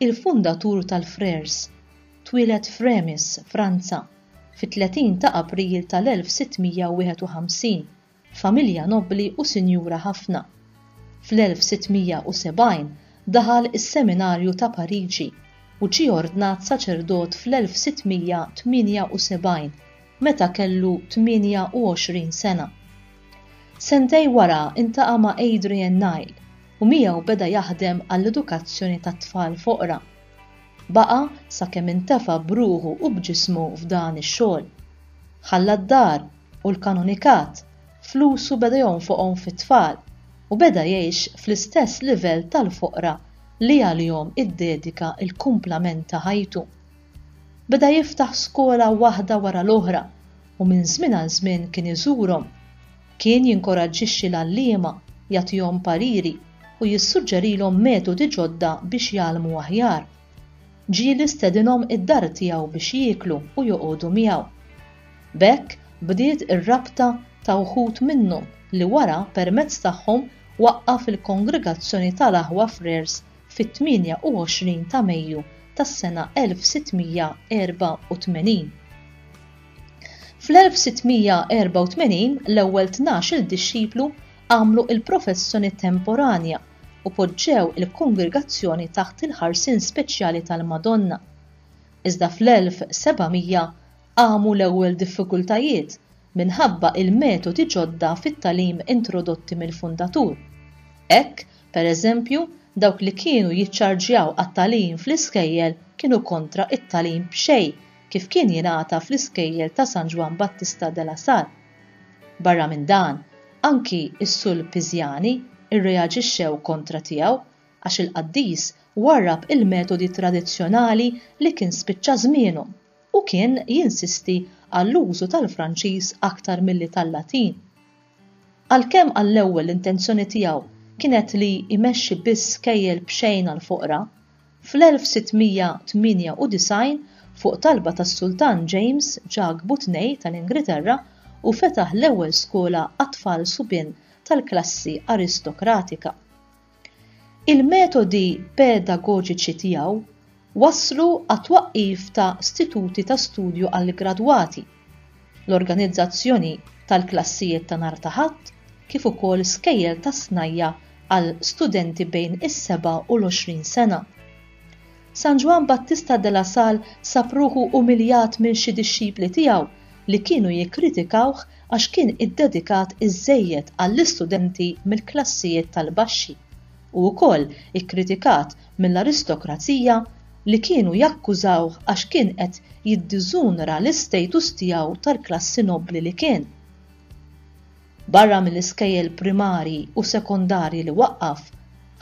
Il-fundatur tal-Frères twieled f'Reims, Franza, fit-30 ta' April tal-1651, familja nobbli u sinjura ħafna. Fl-1670 daħal is-seminarju ta' Pariġi u ġie ordnat saċerdot fl-1678 meta kellu 28 sena. Sentejn wara ltaqa' ma' Adrian Nile, u miegħu beda jaħdem għall-edukazzjoni tat-tfal foqra. Baqa' sakemm intefa' b'ruħu u b'ġismu f'dan ix-xogħol. Ħalla d-dar u l-kanonikat, flusu beda jonfoqhom fit-tfal u beda jgħix fl-istess livell tal-foqra li għalihom iddedika l-kumplament ta' ħajtu. Beda jiftaħ skola waħda wara l-oħra u minn żmien għal żmien kien iżurhom Kien jinkoraġġixxi l-għalliema, jagħtihom pariri u jissuġġerilhom metodi ġodda biex jgħallmu aħjar. Ġieli stedinhom id-dar tiegħu biex jieklu u joqogħdu miegħu. B'hekk bdiet ir-rabta ta' wħud minnhom li wara permezz tagħhom waqqaf il-kongregazzjoni tal-aħwa Frères fit-28 ta' Mejju tas-sena 1684. Fl-1684 l-ewwel tnax-il dixxiplu għamlu l-professjoni temporanja u poġġew il-kongregazzjoni taħt il-ħarsien speċjali tal-Madonna. Iżda fl-1700 qamu l-ewwel diffikultajiet minħabba l-metodi ġodda fit-tagħlim introdotti mill-fundatur. Hekk, per eżempju, dawk li kienu jiċċarġjaw għat-tagħlim fl-iskejjel kienu kontra t-tagħlim b'xejn kif kien jingħata fl-iskejjel ta' San Ġwann Battista de la Salle. Barra minn dan, anki s-Sulpiżjani rreaġixxew kontra tiegħu għax il-qaddis warrab il-metodi tradizzjonali li kien spiċċa żmienhom u kien jinsisti għall-użu tal-Franċiż aktar milli tal-Latin. Għalkemm għall-ewwel l-intenzjoni tiegħu kienet li jmexxi biss kejjel b'xejn għall-foqra, fl-1698 fuq talba tas-Sultan James ġagħbu tnej tal-Ingriterra u fetaħ l-ewwel skola għat-tfal subien tal-klassi aristokratika. Il-metodi pedagoġiċi tiegħu wasslu għat-twaqqif ta' stituti ta' studju għall-gradwati, l-organizzazzjoni tal-klassijiet ta' nhar ta' Ħadd kif ukoll skejjel tas-snajja' għal studenti bejn is-seba' u l-għoxrin sena. San Ġwann Battista de la Salle sab ruħu umiljat minn xi dixxipli tiegħu li kienu jikkritikawh għax kien iddedikat iżżejjed għall-istudenti mill-klassijiet tal-baxxi u wkoll ikkritikat mill-aristokrazija li kienu jakkużawh għax kien qed jiddiżunra l-istatus tiegħu tal-klassi nobbli li kien Barra mill-iskejjel primarji u sekondarji li waqqaf,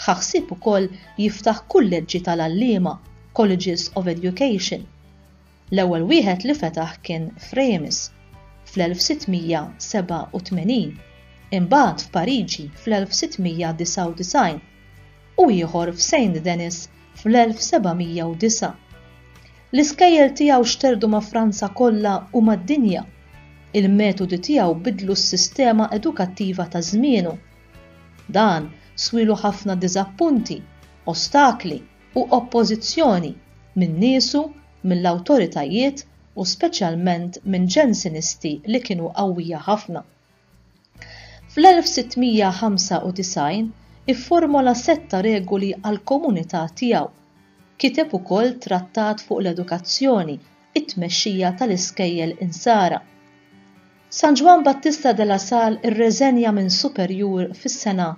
ħa ħsieb ukoll jiftaħ kulleġġi tal-għalliema, Colleges of Education. L-ewwel wieħed li fetaħ kien f'Reims fl-1687, imbagħad f'Pariġi fl-1699 u ieħor f'Saint-Denis fl-1709. L-iskejjel tiegħu xterdu ma' Franza kollha u mad-dinja. Il-metodi tiegħu bidlu s-sistema edukattiva ta' żmienu. Dan swielu ħafna diżappunti, ostakli u oppożizzjoni minn niesu, mill-awtoritajiet u speċjalment minn Ġensinisti li kienu qawwija ħafna. Fl-1695 ifformola sett ta' regoli għall-komunità tiegħu. Kiteb ukoll trattat fuq l-edukazzjoni, it-tmexxija tal-iskejjel insara. San Ġwann Battista de la Salle irreżenja minn superjur fis-sena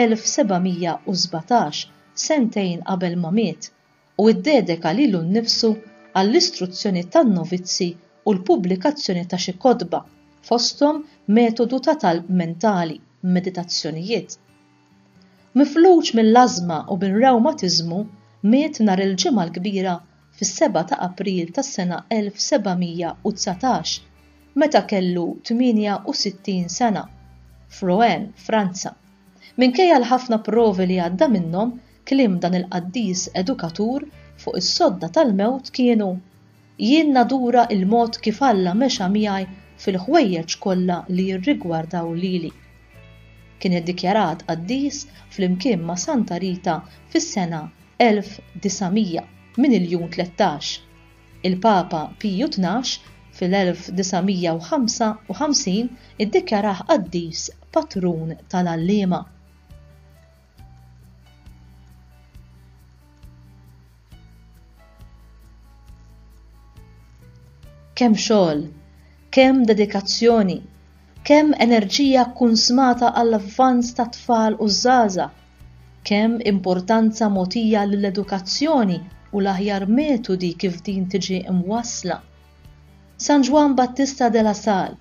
1717, sentejn qabel ma miet. u iddedeka lilu nnifsu għall-istruzzjoni tan-novizzi u l-pubblikazzjoni ta' xi kotba, fosthom Metodu ta' Talb Mentali, Meditazzjonijiet. Mifluġ mill-ażma u bir-rewmatiżmu, miet nhar il-Ġimgħa l-Kbira fis-seba' ta' April tas-sena 1719, meta kellu 68 sena, f'Rouen, Franza. Minkejja l-ħafna provi li għadda minnhom, Kliem dan il-qaddis edukatur fuq is-sodda tal-mewt kienu, Jien nadura l-mod kif Alla mexa miegħi fil-ħwejjeġ kollha li jirrigwardaw lili. Kien iddikjarat qaddis flimkien ma' Santa Rita fis-sena 1900 minn il-Jun 13. Il-Papa Piju Tnax fil-1955 iddikjarah qaddis patrun tal-għalliema. Kemm xogħol, kemm dedikazzjoni, kemm enerġija kunsmata għall-avvanz tat-tfal u ż-żaża, kemm importanza mogħtija lill-edukazzjoni u l-aħjar metodi kif din tiġi mwassla. San Ġwann Battista de la Salle,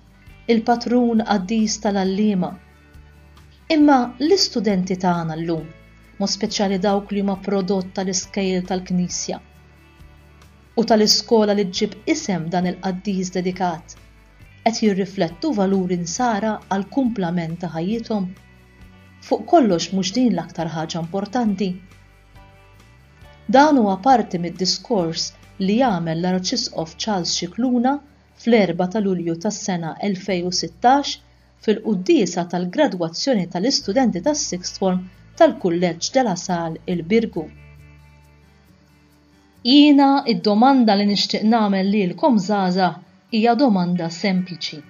il-patrun qaddis tal-għalliema, Imma l-istudenti tagħna llum, mod speċjali dawk li huma prodott tal-iskejjel tal-Knisja u tal-iskola li ġġib isem dan il-qaddis dedikat, qed jirriflettu valuri nsara għall-kumplament ta' ħajjithom? Fuq kollox mhux din l-aktar ħaġa importanti? Dan huwa parti mid-diskors li għamel l-Arċisqof Charles Scicluna fl-Erbgħa ta' Lulju tas-sena 2016 fil-quddiesa tal-gradwazzjoni tal-istudenti tas-Sixth Form tal-Kulleġġ de la Salle il-Birgu. Jiena id-domanda li nixtieq nagħmel lilkom żgħażagħ hija domanda sempliċi.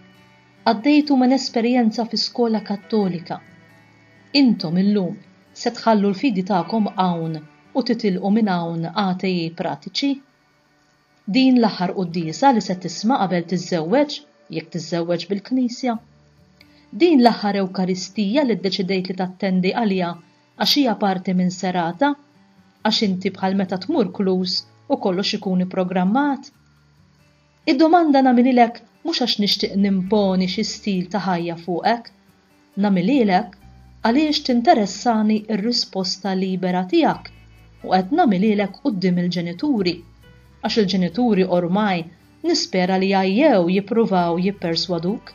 Għaddejtu minn esperjenza fi skola Kattolika. Intom illum se tħallu l-fidi tagħkom hawn u titilqu minn hawn atei pratiċi? Din l-aħħar quddiesa li se tisma' qabel tiżżewweġ, jekk tiżżewweġ bil-Knisja. Din l-aħħar Ewkaristija li ddeċidejt li tattendi għaliha għax hija parti minn serata, għax inti bħal meta tmur Clues u kollox ikun ipprogrammat. Id-domanda nagħmililek mhux għax nixtieq nimponi xi stil ta' ħajja fuqek, Nagħmilhielek għaliex tinteressani r-risposta libera tiegħek u qed nagħmilhielek quddiem il-ġenituri għax il-ġenituri ormai nispera li għajjew jippruvaw jipperswaduk.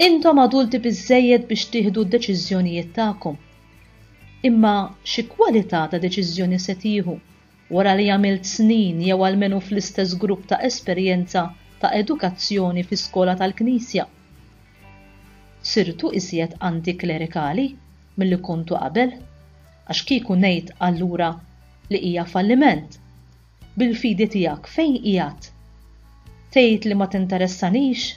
Intom adulti biżżejjed biex tieħdu d-deċiżjonijiet tagħkom. Imma xi kwalità ta' deċiżjoni se tieħu? Wara li għamilt snin jew almenu fl-istess grupp ta' esperjenza ta' edukazzjoni fi skola tal-Knisja, sirtu iżjed anti-klerikali milli kontu qabel, għax kieku ngħid allura li hija falliment, bil-fidi tiegħek fejn qiegħed? Tgħid li ma tinteressanix?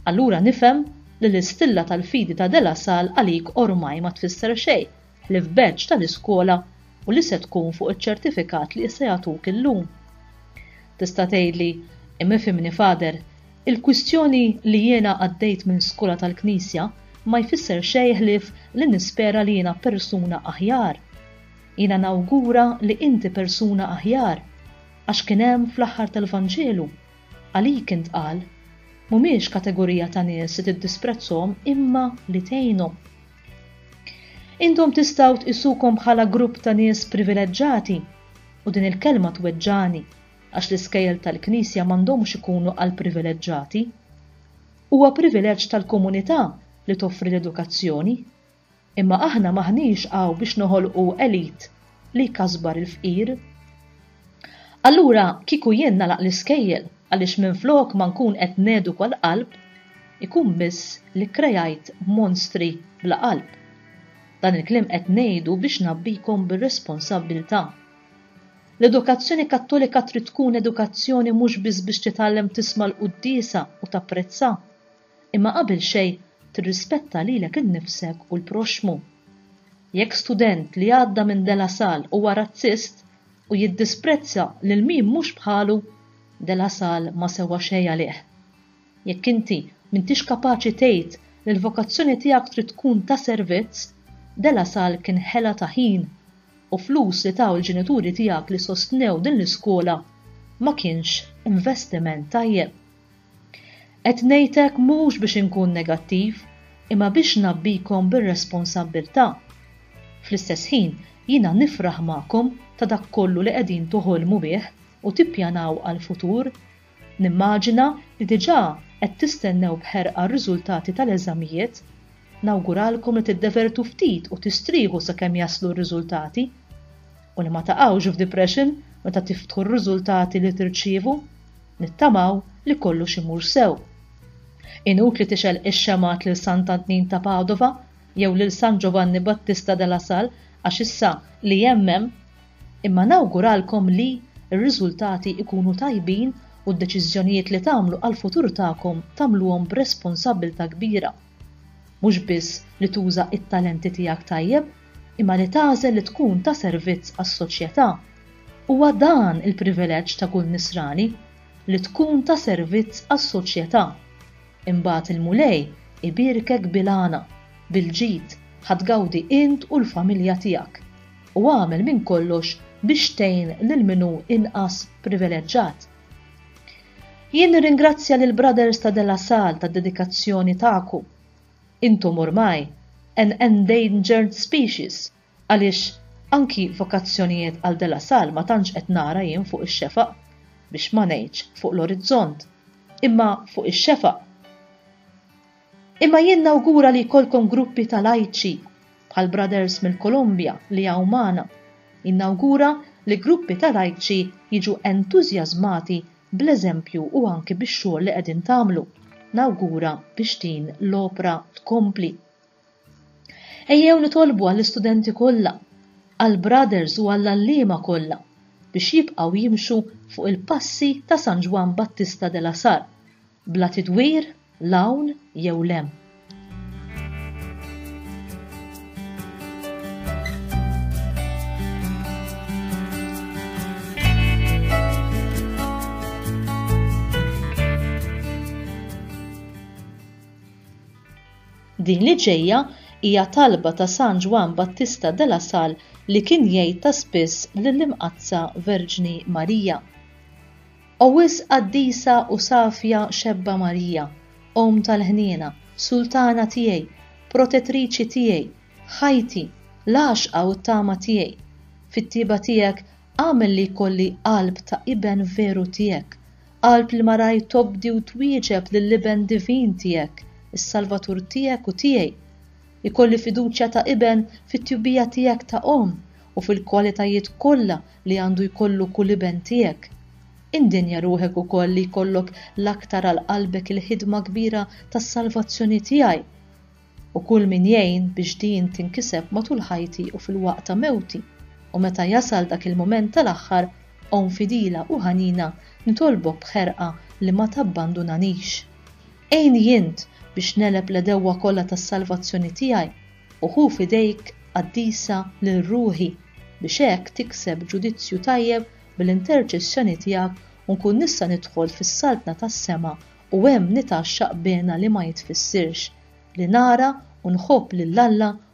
Allura nifhem li l-istilla tal-fidi ta' De La Salle għalik ormaj ma tfisser xejn li f'benċ tal-iskola u li se tkun fuq iċ-ċertifikat li issa jagħtuk illum. Tista' tgħidli, imma ifhimni Father, il-kwistjoni li jiena għaddejt minn skola tal-Knisja ma jfisser xejn ħlief li nispera li jiena persuna aħjar. Jiena nawgura li inti persuna aħjar, għax kien hemm fl-aħħar tal-Vanġelu, għalik intqal, mhumiex kategorija ta' nies li tiddisprezzhom imma li tgħinhom. Intom tistgħu tqisukom bħala grupp ta' nies privileġġati u din il-kelma tweġġagħni għax l-iskejjel tal-Knisja m'għandhomx ikunu għal privileġġati. Huwa privileġġ tal-komunità li toffri l-edukazzjoni. Imma aħna m'aħniex hawn biex noħolqu elite li jkasbar il-fqir. Allura kieku jien nagħlaq l-iskejjel għaliex minflok ma nkun qed neduka l-qalb, ikun biss li kkrejajt monstri bla qalb. Dan il-kliem qed ngħidu biex ngħabbikom bir-responsabbiltà. L-edukazzjoni Kattolika trid tkun edukazzjoni mhux biss biex titgħallem tisma' l-quddiesa u tapprezza, imma qabel xejn tirrispetta lilek innifsek u l-proxxmu. Jekk student li għadda minn De La Salle huwa razzist u jiddisprezza lil min mhux bħalu, De La Salle ma sewwa xejn għalih. Jekk inti m'intix kapaċi tgħid li l-vokazzjoni tiegħek trid tkun ta' servizz, De La Salle kien ħela ta' ħin u flus li taw il-ġenituri tiegħek li sostnew din l-iskola ma kienx investiment tajjeb. Qed ngħid hekk mhux biex inkun negattiv, imma biex ngħabbikom bir-responsabbiltà. Fl-istess ħin, jiena nifraħ magħkom ta' dak kollu li qegħdin toħolmu bih u tippjanaw għall-futur. Nimmaġina li diġà qed tistennew b'ħerqa r-riżultati tal-eżamijiet. Nawguralkom li tiddevertu ftit u tistrieħu sakemm jaslu r-riżultati. U li ma taqgħux f'depression meta tiftħu r-riżultati li tirċievu. Nittamaw li kollux imur sew. Inutli tixgħel ix-xemgħat lil Sant'Antnin ta' Padova jew lil San Giovanni Battista de la Salle għax issa li hemm hemm, imma nawguralkom li r-riżultati jkunu tajbin u d-deċiżjonijiet li tagħmlu għall-futur tagħkom tagħmluhom b'responsabbiltà kbira. Mhux biss li tuża t-talenti tiegħek tajjeb, imma li tagħżel li tkun ta' servizz għas-soċjetà. Huwa dan il-privileġġ ta' kull nisrani, li tkun ta' servizz għas-soċjetà. Imbagħad il-Mulej ibierkek bil-għana, bil-ġid, ħa tgawdi int u l-familja tiegħek. U agħmel minn kollox biex tgħin lil min hu inqas privileġġat. Jien nirringrazzja lill-Brothers ta' De La Salle tad-dedikazzjoni tagħkom Intom ormai an endangered species għaliex anki vokazzjonijiet għal De La Salle ma tantx qed nara jien fuq ix-xefaq, biex ma ngħidx fuq l-orizzont, imma fuq ix-xefaq. Imma jien nawgura li jkollkom gruppi ta' lajċi bħal brothers mill-Kolombja li hawn magħna. Jien nawgura li gruppi ta' lajċi jiġu entużjażmati bl-eżempju u anki bix-xogħol li qegħdin tagħmlu. Nawgura biex din l-opra tkompli. Ejjew nitolbu għall-istudenti kollha, għall-brothers u għall-għalliema kollha biex jibqgħu jimxu fuq il-passi ta' San Ġwann Battista de la Sarre Bla tidwir, l hawn jew l hemm. Din li ġejja hija talba ta' San Ġwann Battista de la Sal li kien jgħid ta' spiss lill-Imqaddsa Verġni Marija. O wisq qaddisa u safja xebba Marija, Omm tal-ħniena, Sultana tiegħi, Protettriċi tiegħi, ħajti, l-għaxqa u t-tama tiegħi, fit-tjieba tiegħek agħmel li jkolli qalb ta' iben veru tiegħek, qalb li maraj tobdi u twieġeb lill-Iben Divin tiegħek, is-Salvatur tiegħek u tiegħi. Ikolli fiduċja ta' iben fit-tjubija tiegħek ta' omm u fil-kwalitajiet kollha li għandu jkollu kull iben tiegħek. Indenja ruħek ukoll li jkollok l-aktar għal qalbek il-ħidma kbira tas-salvazzjoni tiegħi u kull min jgħin biex din tinkiseb matul ħajti u fil-waqt ta' mewti, u meta jasal dak il-mument tal-aħħar, omm fidila u ħanina, nitolbok b'ħerqa li ma tabbandunanix. Għinni int biex negħleb l-għedewwa kollha tas-salvazzjoni tiegħi, u ħu f'idejk qaddisa lil ruħi, biex hekk tikseb ġudizzju tajjeb bl-interċessjoni tiegħek u nkun nista' nidħol fis-saltna tas-sema u hemm nitgħaxxaq b'għena li ma jitfissirx, li nara u nħobb lil Alla